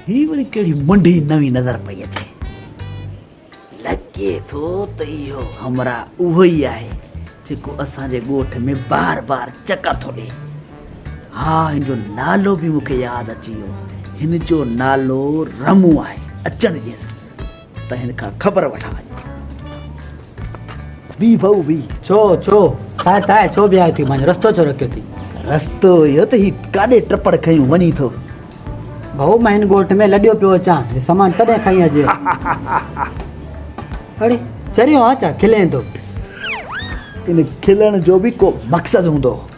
هي وري ڪهڙي منڊي نوي نظر پئي اچي لڳي ٿو ته اهو همراهه اهو ئي آهي جيڪو اسان جي ڳوٺ ۾ بار بار چڪر ٿو ڏي ها هن جو نالو به مون کي ياد اچي ويو هن جو نالو رمو آهي اچڻ ڏيس ته هن کان خبر وٺان اڄ. بيهه ڀؤ بيهه. ڇو ڇو تاء تاء ڇو بيهايو ٿي مانجهه رستو ڇو رکيو ٿي. رستو اهو ته هي ڪاڏي ٽپڙ کنيون وڃي ٿو. ڀؤ مان هن ڳوٺ ۾ لڏيو پيو اچان هي سامان تڏهن کڻي اڄ. اڙي چريو آ ڇا کلين ٿو. ان کلڻ جو به ڪو مقصد هوندو.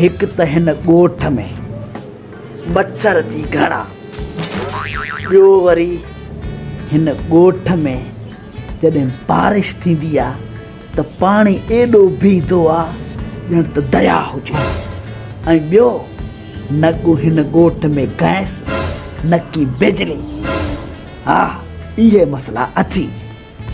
هڪ ته هن ڳوٺ ۾ مڇر ٿي گهڻا، ٻيو وري هن ڳوٺ ۾ جڏهن بارش ٿيندي آ ته پاڻي ايڏو بيهندو آ ڄڻ ته درياء هجي ۽ ٻيو نه ڪو هن ڳوٺ ۾ گئس نه ڪي بجلي، ها اهي مسئلا اٿي.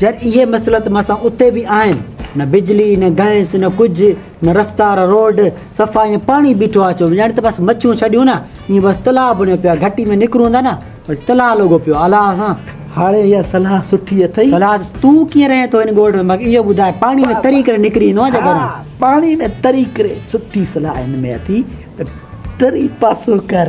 جڏهن اهي مسئلا ته مسان اتي به آهن، نه بجلي، نه گئس، نه ڪجهه، نه رستا، نه روڊ، صفا ائين پاڻي بيٺو آهي چون ڄڻ ته بس مڇون ڇڏيون نه ائين بس تلاء بڻيو پيو آهي، گهٽي ۾ نڪرون ٿا نه بس تلاء لڳو پيو آهي الله سان. هاڻي اها صلاح سٺي اٿئي. صلاح تون ڪيئن رهين ٿو هن ڳوٺ ۾ مگر اهو ٻڌاء پاڻي ۾ تري ڪري نڪري ايندو آهيان جا گهران. پاڻي ۾ تري ڪري سٺي صلاح هن ۾ اٿي ته تري پاسو ڪر.